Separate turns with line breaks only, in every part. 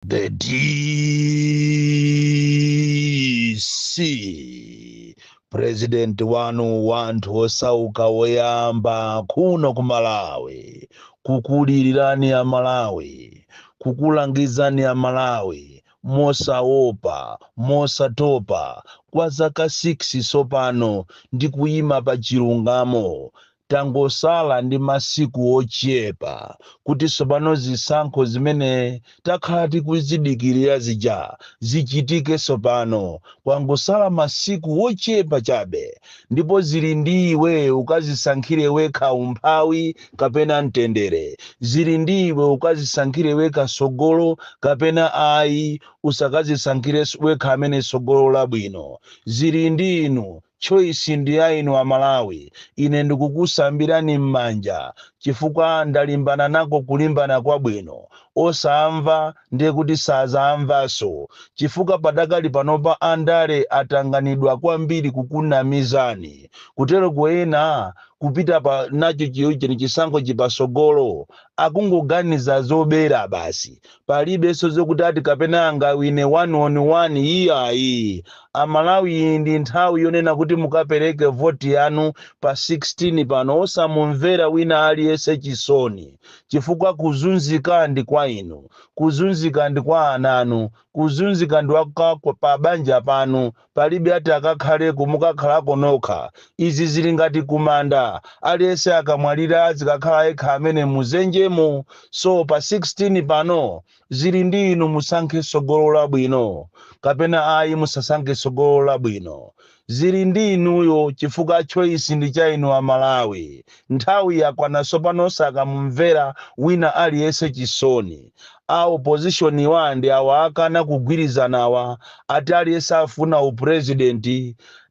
The DC president wanu wa anthu osauka woyamba kuno ku Malawi kukulilirani a Malawi kukulangizani a Malawi mosaopa mosatopa kwa zaka 6 sopano ndi kuyima pa chilungamo Tangosala ndi masiku ochepa kuti tsopano zisankho zimene takhala tikuzidikirira zija zichitike tsopano. Kwangosala masiku ochepa chabe ndipo zili ndi iwe ukazisankhire wekha umphawi kapena mtendere. Zili ndi iwe ukazisankhire wekha tsogolo kapena ayi usakazisankhire wekha amene tsogolo labwino. Zili ndi inu Choice ndi ya inu a Malawi. Ine ndikukusambirani mmanja chifukwa ndalimbana nako kulimbana kwabwino. Osamva ndiye kuti sazamvanso chifukwa padakali panopa andale atanganidwa kwambiri kukunamizani kuteroko ena kupita pa nacho chisankhochi pasogolo akungoganiza zobera basi Palibenso zokuti ati kapena angawine one on one iyayi. A Malawi iyi ndi nthawi yonena kuti mukapereke vote yanu pa 16 pano osamumvera wina aliyense chisoni chifukwa kuzunzika ndi kwa inu, kuzunzika ndi kwa ana anu, kuzunzika ndi kwa pabanja panu Palibe ati akakhaleko, mukakhalako nokha. Izi zili ngati kumanda, aliyense akamwalira azikakhala yekha amene mu zenjemo, so pa 16 pano zili ndi inu musankhe sogolo labwino kapena ayi musasankhe sogolo labwino zili ndi inuyo chifukwa choice ndi cha inu a Malawi nthawi yakwana sopano osakamumvera wina aliyense chisoni A opposition wa ndi awa akana kugwirizanawa ati aliyense afuna u president.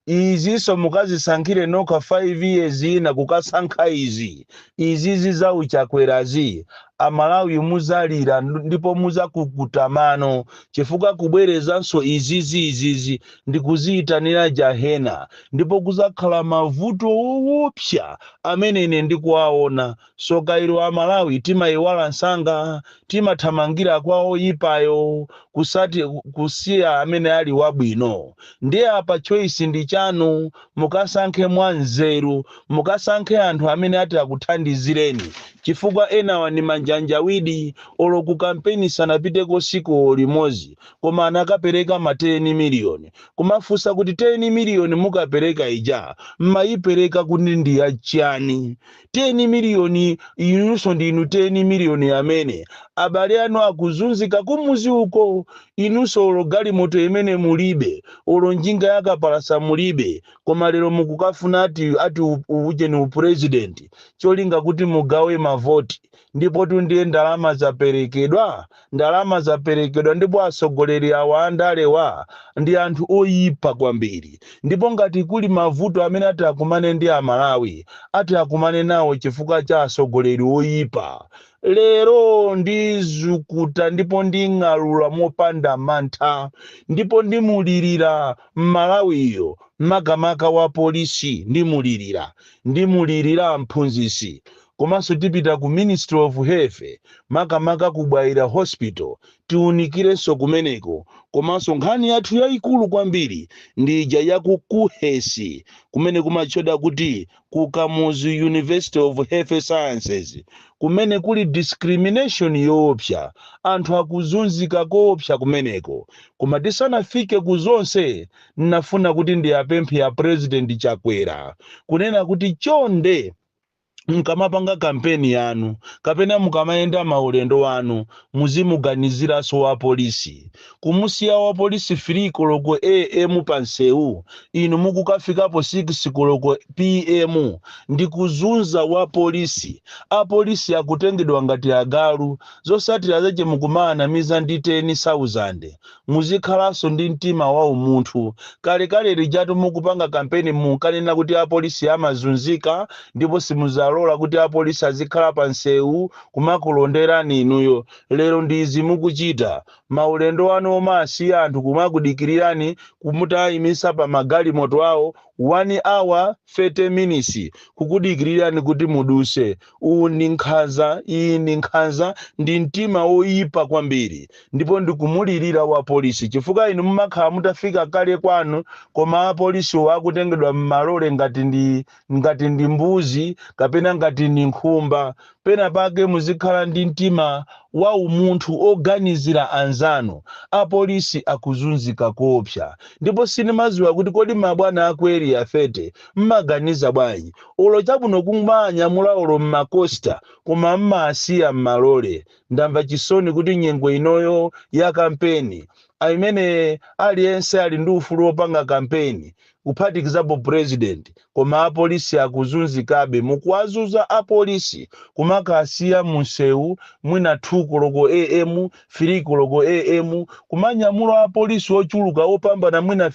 Izinso mukazisankhire nokha 5 years ina kukasankha izi izizi za u Chakwerazi a Malawi muzalira ndipo muzakukuta mano chifukwa kubwerezanso izizi izizi ndi kuziyitanira Jahena ndipo kuzakhala mavuto owopsya amene ine ndikuwaona. Soka ilo amalawi timayiwala nsanga timathamangira kwa oyipayo kusati kusiya amene ali wabwino ndiye apa choice ndi chanu mukasankhe mwa nzeru mukasankhe anthu amene ati akuthandizireni chifukwa enawa ndi manjanjawidi olo ku kampeni sanapiteko siko limozi koma anakapereka ma 10 million kumafunsa kuti 10 million mukapereka ija mmayipereka kuti ndi ya chani 10 miliyoni inunso ndinu 10 miliyoni amene abale anu akuzunzika kumuzi uko inunso olo galimoto yomwe mulibe olo njinga yakapalasa mulibe koma lero mukukafuna ati ati u- ujeni u president cholinga kuti mugawe mavoti Ndipotu ndiye ndalama zaperekedwa, ndalama zaperekedwa ndipo atsogoleri awa andalewa ndi anthu oipa kwambiri ndipo ngati kuli mavuto amene ati akumane ndi Amalawi, ati akumane nawo chifukwa cha atsogoleri oipa. Lero ndizukuta ndipo nding'alula mopanda mantha ndipo ndimulirira Mmalawiyo makamaka wapolisi ndimulirira, ndimulirira mphunzitsi komanso tipita ku ministry of health makamaka ku bwaila hospital tiunikirenso kumeneko komanso nkhani yathu yayikulu kwambiri ndi ija ya ku KUHeS kumene kumatchedwa kuti ku kamuzu university of health sciences kumene kuli discrimination yoopsa anthu akuzunzika koopsa kumeneko koma tisanafike ku zonse nnafuna kuti ndiwapemphe a president chakwera kunena kuti chonde mukamapanga kampeni yanu kapena mukamayenda maulendo anu muzimuganiziranso wapolisi. Kumusiya wapolisi 3 koloko AM pansewu inu mukukafikapo 6 koloko PM ndi kuzunza wapolisi. Apolisi akutengedwa ngati agalu. Zotsatira zache mukumawanamiza ndi teni sauzande. Muzikhalanso ndi mtima wa umunthu. Kalekale lijatu mukupanga kampeni munkanena kuti apolisi amazunzika ndipo simudzalola kuti apolisi azikhala pa nsewu kumakulonderani inuyo. Lero ndi izi mukuchita. Maulendo anu omasiya anthu kumakudikirirani mutaimitsa pa magalimoto awo 1 hour 30 minisi kukudikirirani kuti mudutse. Uwu ndi nkhanza, iyi ndi nkhanza, ndi mtima woyipa kwambiri. Ndipo ndikumulirira wapolisi chifukwa inu mumakhala mutafika kale kwanu koma apolisiwo akutengedwa m'malole ngati ndi, ngati ndi mbuzi kapena ngati ndi nkhumba. Penapake muzikhala ndi mtima wa umunthu oganizira anzanu. Apolisi akuzunzika koopsa. Ndipo sindimadziwa kuti kodi mabwana a ku Area 30 mmaganiza bwanji? Olo chabwino kumawanyamula olo mma coaster koma mmasiya mmalole. Ndamva chisoni kuti nyengo inoyo ya kampeni imene aliyense ali ndi ufulu wopanga kampeni kuphatikizapo president koma apolisi akuzunzikabe mukuwazunza apolisi kumakasiya munsewu mwina 2 koloko am 3 koloko am kumanyamula apolisi ochuluka opambana mwina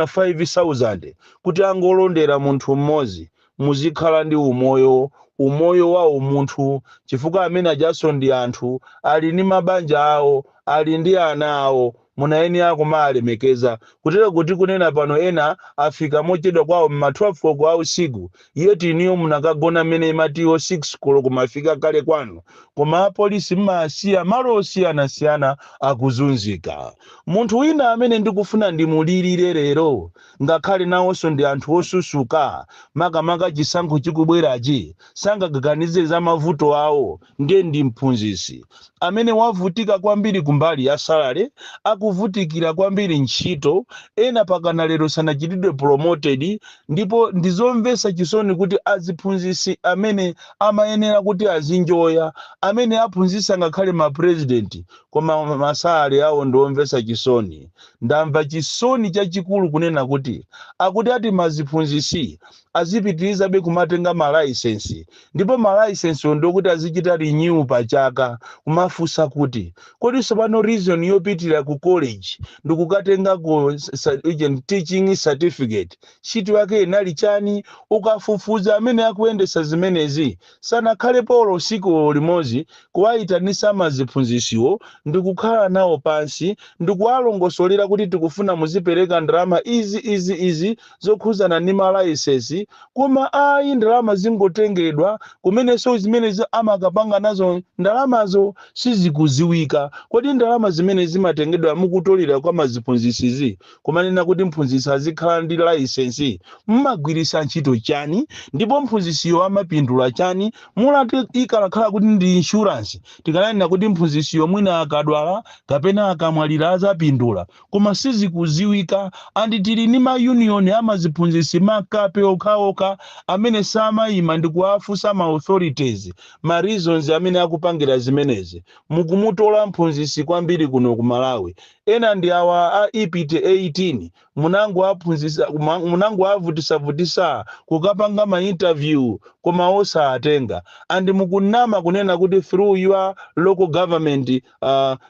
5000 kuti angolondera munthu mmodzi muzikhala ndi umoyo umoyo wa umunthu chifukwa amene ajaso ndi anthu ali ndi mabanja awo ali ndi ana awo Munayenera kumalemekeza. Kutero kuti kunena pano ena afika mochedwa kwawo mma 12 koloko a usiku yet inuyo munakagona mmene imatiyo 6 koloko mwafika kale kwanu. Koma a polisi mmawasiya malo osiyanasiyana akuzunzika. Munthu wina amene ndikufuna ndimulirire lero ngakhale nawonso ndi anthu osusuka makamaka chisankho chikubwerachi sangaganize za mavuto awo Ndiye ndi mphunzitsi amene wavutika kwambiri kumbali ya salary, akuvutikira kwambiri ntchito, ena pakana lero sanachitidwe promoted ndipo ndizomvetsa chisoni kuti aziphunzitsi amene amayenera kuti azinjoya, amene aphunzitsa ngakhale ma president koma ma salary awo ndi omvetsa chisoni. Ndamva chisoni chachikulu kunena kuti akuti ati ma ziphunzitsi azipitirizabe kumatenga ma license ndipo ma license wo ndi okuti azichita renew pa chaka kumafunsa kuti kodi tsopano reason yopitilira ku college ndikukatengako sa- ija teaching certificate ntchito yake inali chani ukafufuza amene akuyendetsa zimenezi sanakhalepo olo siku limodzi kuwayitanisa ma ziphunzisiwo ndikukhala nawo pansi ndikuwalongosolera kuti tikufuna muzipereka ndalama izi izi izi zokhuzana ndi ma layisensi koma ayi ndalama zingotengedwa kumeneso zimenezi amakapanga nazo ndalamazo sizikuziwika kodi ndalama zimene zimatengedwa mukutolera kwa maziphunzisizi Kumanena kuti mphunzitsi azikhala ndi license mmagwirisa ntchito chani ndipo mphunzisiyo amapindula chani mulati ikanakhala kuti ndi insurance tikananena kuti mphunzisiyo mwina akadwala kapena akamwalira azapindula koma sizikuziwika and tili ndi ma union amaziphunzitsi makape okhaokha amene samaima ndikuafunsa ma authorities ma reasons amene akupangira zimenezi mukumutola mphunzitsi kwambiri kuno ku malawi Ena ndi awa a ipte 18 munangowaphunzitsa munangowavutisavutisa kukapanga ma interview koma osaatenga and mukunama kunena kuti through your local government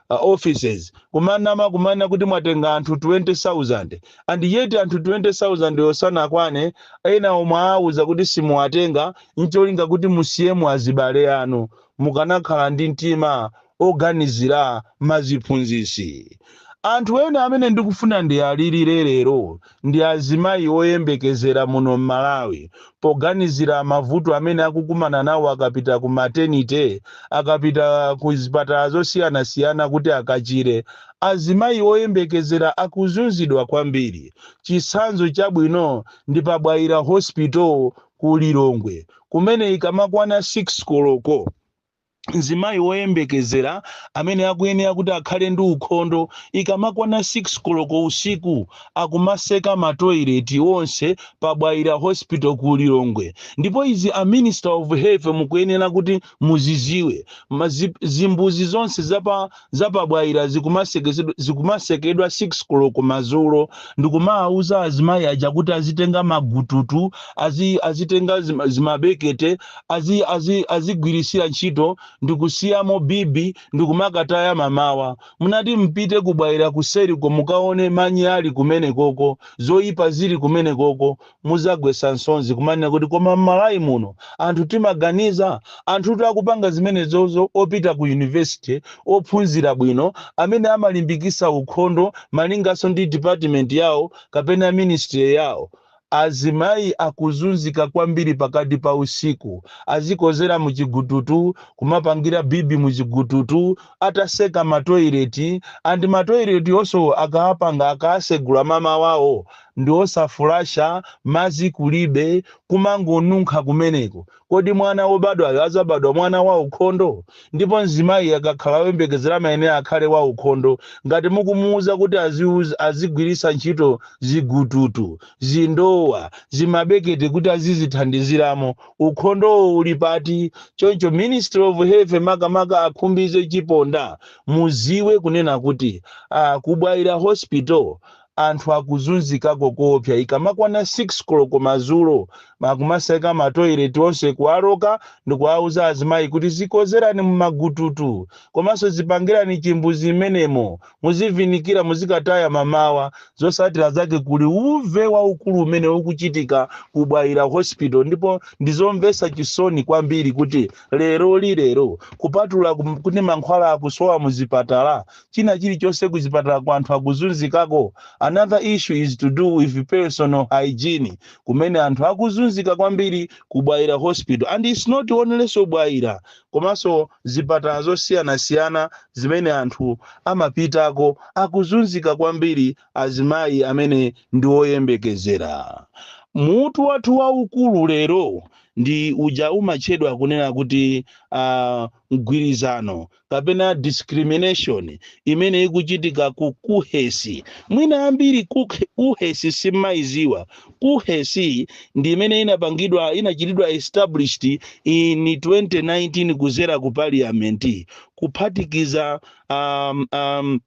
offices kumanama kumanena kuti mwatenga anthu 20,000 and yet anthu 20,000 wo sanakwane enawo mwaauza kuti simuwatenga ncholinga kuti musiyemo azibale anu mukanakhala ndi mtima oganizira maziphunzisi. Anthu ena amene ndikufuna ndialilire lero ndi azimayi oyembekezera muno m'Malawi poganizira mavuto amene akukumana nawo akapita ku maternity, akapita ku zipatala zosiyanasiyana kuti akachire. Azimayi oyembekezera akuzunzidwa kwambiri. Chitsanzo chabwino ndi pa Bwaila Hospital ku Lilongwe kumene ikamakwana 6 koloko, Mzimayi woyembekezera amene akuyenera kuti akhale ndi ukhondo, ikamakwana 6 koloko usiku akumaseka ma toilet onse pa Bwaila hospital ku Lilongwe. Ndipo izi a minister of health mukuyenera kuti muziziwe. zimbuzi zonse za pa za pa Bwaila zikumasekedwa 6 koloko madzulo ndikumawauza azimayi aja kuti azitenga magututu, azitenga zimabekete, azigwiritsira ntchito ndikusiyamo bibi ndikumakataya mamawa. Munati mpite ku Bwaila kuseriko mukaone manyi ali kumenekoko, zoipa zili kumenekoko, Muzagwesa nsonzi kumanena kuti koma mmalawi muno anthu timaganiza? Anthutu akupanga zimenezozo opita ku university ophunzira bwino amene amalimbikisa ukhondo malingaso ndi department yawo kapena ministry yawo. Azimayi akuzunzika kwambiri pakati pa usiku azikozera mu chigututu kumapangira bibi mu chigututu ataseka ma toilet and ma toilet onso akawapanga akawasegula mamawawo ndiosafulasha mazi kulibe kumangonunkha kumeneko kodi mwana wobadwayo azabadwa mwana waukhondo ndipo mzimayi akakhala oyembekezera amayenera akhale waukhondo ngati mukumuuza kuti azigwirisa ntchito zigututu, zindowa, zimabekete kuti azizithandiziramo ukhondowo uli pati choncho ministry of health makamaka a khumbize chiponda muziwe kunena kuti aah kubwaila hospital anthu akuzunzikako koopsa ikamakwana 6 koloko madzulo akumaseka ma toilet onse kuwaloka ndikuwauza azimayi kuti zikozerani mumagututu komanso zipangirani chimbuzi mmenemo muzivinikira muzikataya mamawa zosatira zake kuli uve waukulu umene ukuchitika ku bwaila hospital ndipo ndizomvetsa chisoni kwambiri kuti lero lilero kupatula kuti mankhwala akusowa muzipatala china chili chonse kuzipatalako anthu akuzunzikako another issue is to do with personal hygiene kumene anthu akuzunzika kwambiri ku bwaila hospital and its not only so bwaila komanso zipatala zosiyanasiyana zimene anthu amapitako akuzunzika kwambiri azimayi amene ndi oyembekezera mutu wathu waukulu lero ndi uja umatchedwa kunena kuti uh, mgwirizano kapena discrimination imene ikuchitika ku kuhesi mwina ambiri kuk- kuhesi simumaiziwa kuhesi ndi imene inapangidwa inachitidwa established in 2019 kuzera ku parliament kuphatikiza um, um,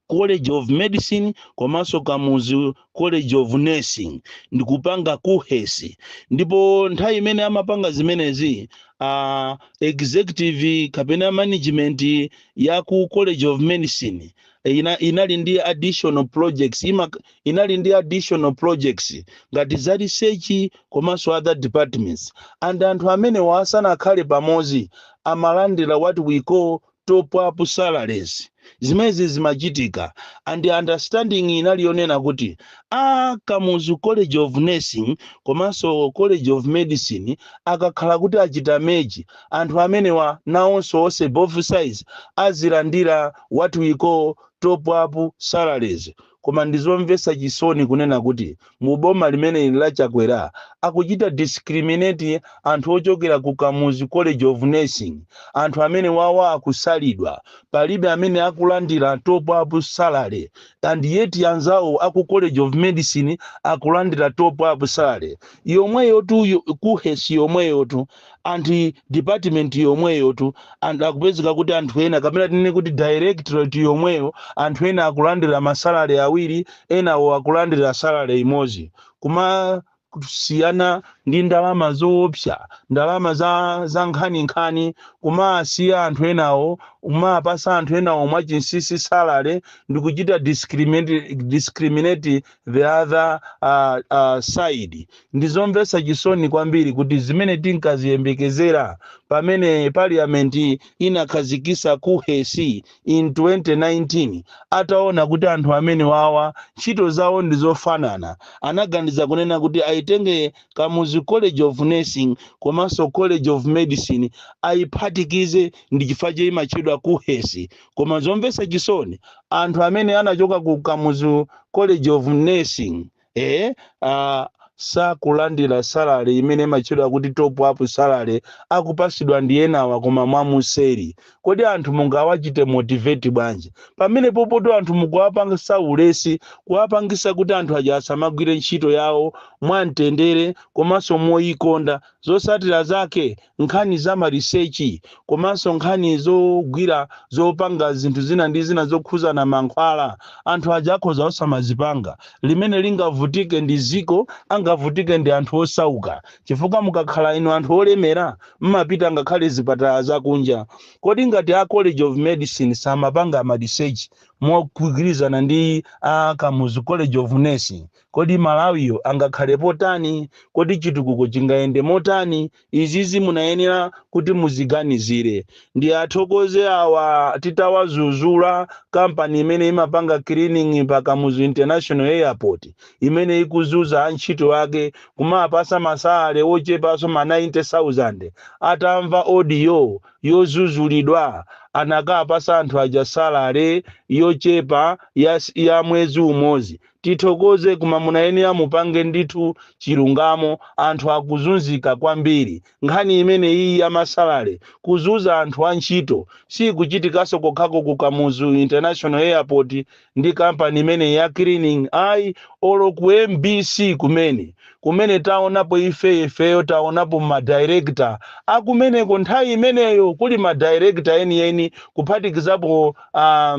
college of medicine komanso kamuzu college of nursing ndikupanga kuhesi ndipo nthawi imene amapanga zimenezi uh, executive kapena management ya ku college of medicine ina, inali ndi additional projects ima, inali ndi additional projects ngati za research komanso other departments and anthu amenewa asanakhale pamodzi amalandira what we call top up salaries zimenezi zimachitika and understanding inali yonena kuti a kamuzu college of nursing komanso college of medicine akakhala kuti achita merge anthu amenewa nawonso onse both sides azilandira what we call top up salaries Koma ndizomvesa chisoni kunena kuti mu boma limeneli la Chakwera akuchita discriminate anthu ochokera ku Kamuzu College of Nursing, anthu amenewawa akusalidwa, palibe amene akulandira top up salary and yet anzawo aku College of Medicine akulandira top up salary yomweyotu, KUHeS yomweyotu. and department yomweyotu and akupezeka kuti anthu ena kapena tinene kuti directorate yomweyo anthu ena akulandira masalale awiri enawo akulandira salale imodzi kumasiyana ndi ndalama zoopsa ndalama za, za nkhaninkhani kumasiya anthu enawo kumapasa anthu enawo mwachinsisi salale ndikuchita discriminate, discriminate the other uh, uh, side ndizomvetsa chisoni kwambiri kuti zimene tinkaziyembekezera pamene parliament inakhazikisa kuhesi in 2019 ataona kuti anthu amenewawa ntchito zawo ndi zofanana anaganiza kunena kuti ayitenge kamuzu college of nursing komanso college of medicine ayiphatikize ndi chifukwa chake imatchedwa kuhesi koma zomvetsa chisoni anthu amene anachoka ku kamuzu college of nursing eh, uh, sakulandira salary imene imatchedwa kuti top up salary akupasidwa ndi enawa koma mwamuseri kodi anthu mungawachite motivate bwanji pamene popotu anthu mukuwapangisa ulesi kuwapangisa kuti anthu aja asamagwire ntchito yawo mwamtendere komanso moyikonda Zotsatira zake, nkhani za ma research komanso nkhani zogwira zopanga zinthu zina ndi zina zokhuzana mankhwala, anthu aja akhoza osamazipanga, limene lingavutike ndi dziko angavutike ndi anthu osauka chifukwa mukakhala inu anthu olemera mmapita ngakhale zipatala za kunja. Kodi ngati a College of Medicine samapanga ma research mogwirizana ndi a Kamuzu College of Nursing? Kodi Malawiyo angakhalepo tani? Kodi chitukuko chingayende motani? Izizi munayenera kuti muziganizire. Ndiwathokoze awa titawazuzula company imene imapanga cleaning pa Kamuzu International Airport imene ikuzuza antchito ake kumapasa ma salary ochepaso ma 90,000 atamva audio yozuzulidwa anakapasa anthu aja salary yochepa ya ya mwezi umozi Tithokoze koma munayenera mupange ndithu chilungamo anthu akuzunzika kwambiri nkhani imeneyiyi ya ma salary kuzuza anthu antchito siikuchitikaso kokhako ku kamuzu international airport ndi company imeneyi ya cleaning ayi olo ku mbc kumene kumene taonapo ife ifeyo taonapo ma director akumeneko nthawi imeneyo kuli ma director enieni kuphatikizapo a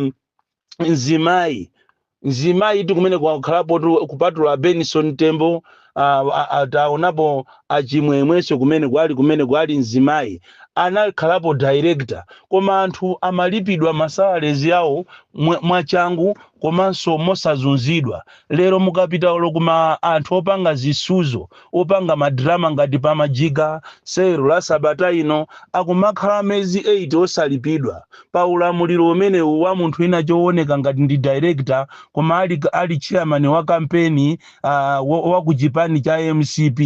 mzimayi mzimayitu kumene kwakhalapotu kupatula benson tembo ah, ah, ah, taonapo achimwemwenso kumene kwali kumene kwali mzimayi anakhalapo director koma anthu amalipidwa masalarizi yawo mwa- mwachangu komanso mosazunzidwa Lero mukapita olo kwa anthu opanga zisuzo, opanga ma drama ngati Pamajiga, Sewero la sabata ino, akumakhala mezi 8 osalipidwa, pa ulamuliro umenewu wa munthu wina chooneka ngati ndi director koma ali ali chairman wa kampeni aah wa ku chipani cha mcp.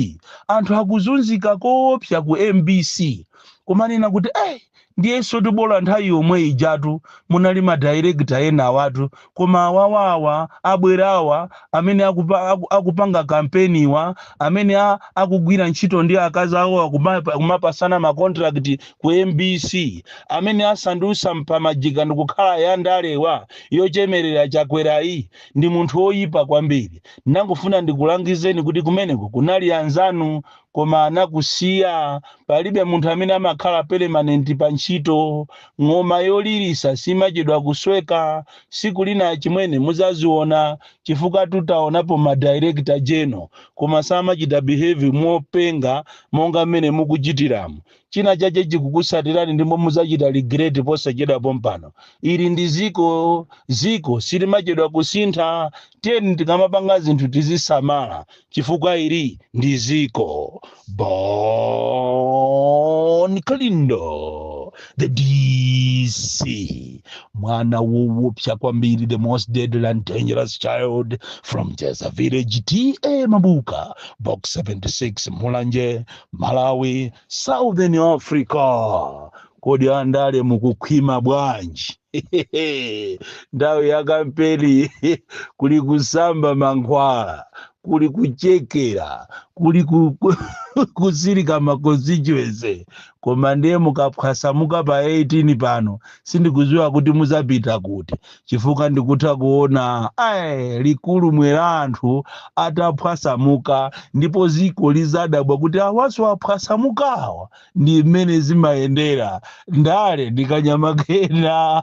Anthu akuzunzika koopsa ku mbc kumanena kuti ayi Ndiyensotu bola nthawi yomwe ijatu munali ma director enawatu koma awawa awa abwerawa amene akupa, aku, akupanga campaignwa amene a, akugwira ntchito ndi akazi awowa kumapa, kumapasana ma contract ku mbc amene asandusa pamajiga ndikukhala ya ndalewa yochemerera chakwerayi ndi munthu oyipa kwambiri ndangofuna ndikulangizeni kuti kumeneko kunali anzanu koma anakusiya palibe munthu amene amakhala permanent pa ntchito ng'oma yolirisa simachedwa kusweka siku lina achimwene muzaziona chifukwa tu taonapo ma director general koma samachita behave mopenga monga mmene mukuchitiramu China chache chikukusatirani ndipo muzachita regret posachedwa pompano. Ili ndi ziko, ziko silimachedwa kusintha. Tiyeni tikamapanga zinthu tizisamala chifukwa ili ndi ziko. Bon Kalindo, the DC, mwana wowopsa kwambiri, the most deadly and dangerous child from Jeza village, TA Mabuka, box 76, Mulanje, Malawi, Southern Africa. Kodi andale mukukhwima bwanji? Nthawi ya kampeni kuli kusamba mankhwala, kuli kuchekera, kuli ku- ku- kusirika ma constituency. Koma ndiye mukaphwasamuka pa 18 pano, sindikuziwa kuti muzapita kuti. chifukwa ndikutha kuona ayi likulumwe la anthu ataphwasamuka ndipo ziko lizadabwa kuti awaso aphwasamukawa ndi mmene zimayendera ndale ndi kanyama kena